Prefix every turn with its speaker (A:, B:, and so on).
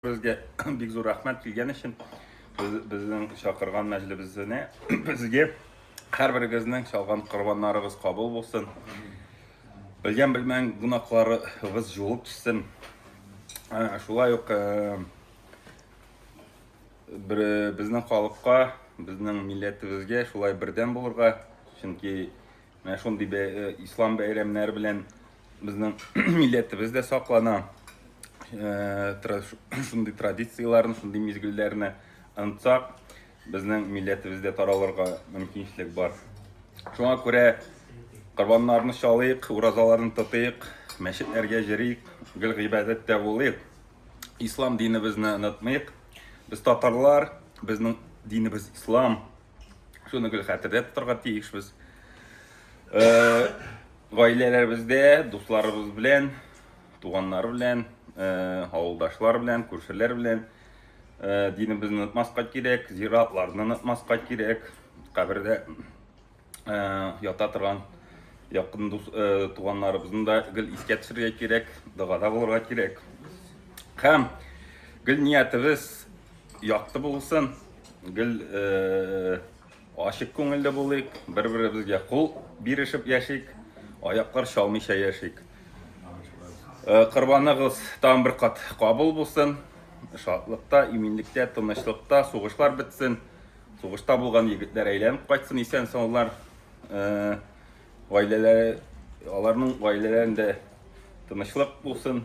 A: Безгә бик зур рәхмәт килгән өчен. Безнең чакырган мәҗлебезенә безгә һәрберегезнең чалган корбаннарыгыз кабул булсын. Белгән белмәгән гөнаһларыгыз җуып төшсен. Шулай ук безнең халыкка, безнең милләтебезгә шулай бердәм булырга, чөнки Менә шундый бә, э, ислам бәйрәмнәре белән безнең милләтебез дә саклана. Э, тра, шундый традицияләрне, шундый мизгелләрне онытсак, безнең милләтебез дә таралырга мөмкинчелек бар. Шуңа күрә корбаннарны чалыйк, уразаларны тотыйк, мәчетләргә җөрик, гел гыйбадәттә булыйк. Ислам динебезне онытмыйк. Без татарлар, безнең динебез ислам. Шуны гел хәтердә тотарга тиешбез. Э, гаиләләребездә, дусларыбыз белән, туганнар белән, э, авылдашлар белән, күршеләр белән э, динебезне онытмаска кирәк, зиратларны онытмаска кирәк, кабердә ята торган якын дус туганнарыбызны да гел искә төшерергә кирәк, догада булырга кирәк. Һәм гел ниятебез Якты булсын, гел э, ачык күңелле булыйк, бер-беребезгә кул бирешеп яшик, аяклар чалмыйча яшик. Э, Кырбаныгыз тагын бер кат кабул булсын. Шатлыкта, иминлектә, тынычлыкта, сугышлар бетсен. Сугышта булган егетләр әйләнеп кайтсын исән саулар. Э, Гаиләләре, аларның гаиләләрендә тынычлык булсын.